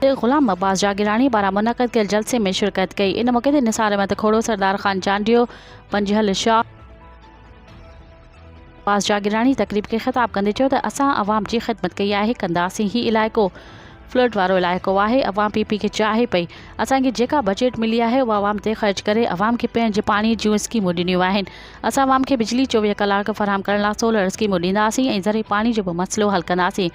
تي غلام عباس جاگيراڻي پاران منعقد ڪيل جلسي ۾ شرڪت ڪئي ان موقعي تي نثار احمد کهڙو سردار خان چانڊيو پنجهل شاهه عباس جاگيراڻي تقريب کي خطاب ڪندي چيو ته اسان عوام جي خدمت ڪئي آهي ڪنداسين هي علائقو فلڊ وارو علائقو آهي عوام پي پي کي چاهي پئي اسان کي جيڪا بجيٽ ملي آهي اها عوام تي خرچ ڪري عوام کي پيئڻ جي پاڻي جون اسڪيمون ڏنيون آهن اسان عوام کي بجلي چوويهه ڪلاڪ فراهم ڪرڻ لاء سولر اسڪيمون ڏينداسين ۽ ذري پاڻي جو به مسئلو حل ڪنداسين